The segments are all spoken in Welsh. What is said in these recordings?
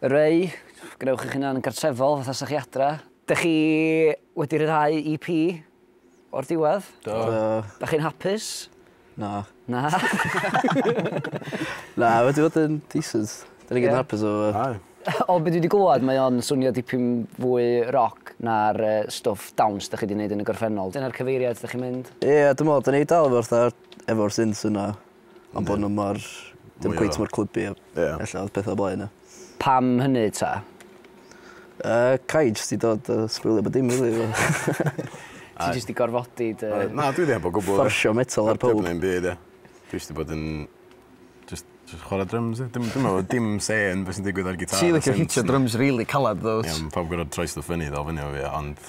Ray, gwnewch eich hunan yn gartrefol fatha sa chi adra. Dych chi wedi rhyddhau EP o'r diwedd? Do. Dych chi'n hapus? Na. Na? Na, wedi bod yn decent. Da ni gyd yn hapus efo fo. Aye. O be dwi wedi glywed, mae o'n swnio dipyn fwy roc na'r stwff dawns dych chi wedi gwneud yn y gorffennol. Dyna'r cyfeiriad dych chi'n mynd? Ie, dwi'n meddwl, da ni wedi dal efo fatha, efo'r synths yna. Am bo' n'w mor... Dim cweit mor clybu a... Ie. ...ella odd petha o blaen ia? Pam hynny ta? Yy ca' i jyst 'di dod a sbwylio bo' dim rili efo... Ti jyst 'di gorfodi dy... Oedd na dwi 'di heb o gwbwl de. Fforsio metal ar powb. Heb dim byd ia. Dwi jyst 'di bod yn jyst jyst chwara dryms ia? Dim dwi me'wl o'dd dim say yn be' sy'n digwydd ar gitâr... Ti licio hitio dryms rili calad dw't? Ie on' pawb gorod troi stwff fyny i ddal fyny efo fi ia ond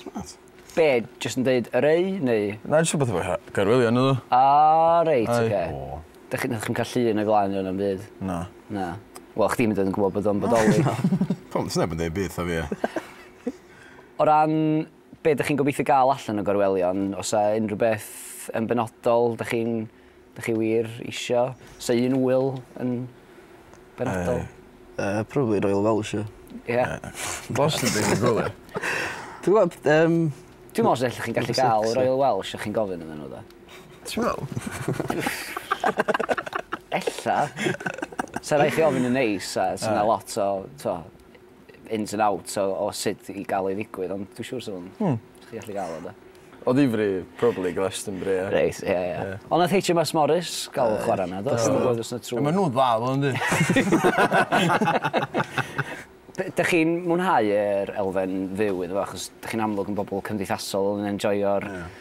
Smart. Be'? Jyst yn deud yr ei neu? Na jyst rwbeth efo Gaerwyddion oedd o. O reit oce. Dach chi- nathoch chi'm ca'l llun o flaen yna na'm byd? Na. Na. Wel chdi'm hyd yn oed yn gwbod bod o'n bodoli. Pam do's neb yn deud byth 'tha fi ia? O ran be' dych chi'n gobeithio ga'l allan o Gorwelion o's 'a unrhyw beth yn benodol dych chi'n Dych chi wir isio sy un ŵyl yn benodol? Yy yy probably Royal Welsh ia. Ia? Bosib ddim yn gwybod. Ti'n gwybod yym... Dwi'n meddwl os ydych chi'n gallu cael Royal Welsh a chi'n gofyn iddyn nhw de. Ti'n meddwl? Ella. Sa raid chi ofyn yn neis a sa 'na lot o t'o' ins and outs o, o sut i gael ei ddigwydd, ond dwi'n siŵr sy'n hmm. chi gallu gael o da. O ddifri, probably Glastonbury, ie. Reis, ie, ie. Yeah. Ond nath HMS Morris gael uh, chwarae na, do? Dwi'n gwybod os na trwy. Mae nhw'n dda, ddo, ynddi. Dych chi'n mwynhau yr elfen fyw iddo fo, achos dych chi'n amlwg yn bobl cymdeithasol yn enjoyo'r yeah.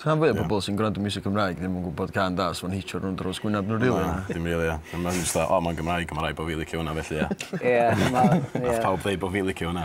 Rhan fwya o bobol sy'n gwrando miwsig Cymraeg ddim yn gwbod cân da os ma'n hitio rownd drws gwynab n'w rili. Na dim rili ia. A ma' jyst fatha o ma'n Gymraeg a ma' raid bo' fi licio wnna felly ia. Ie na ie. Nath pawb ddeud bo' fi licio wnna.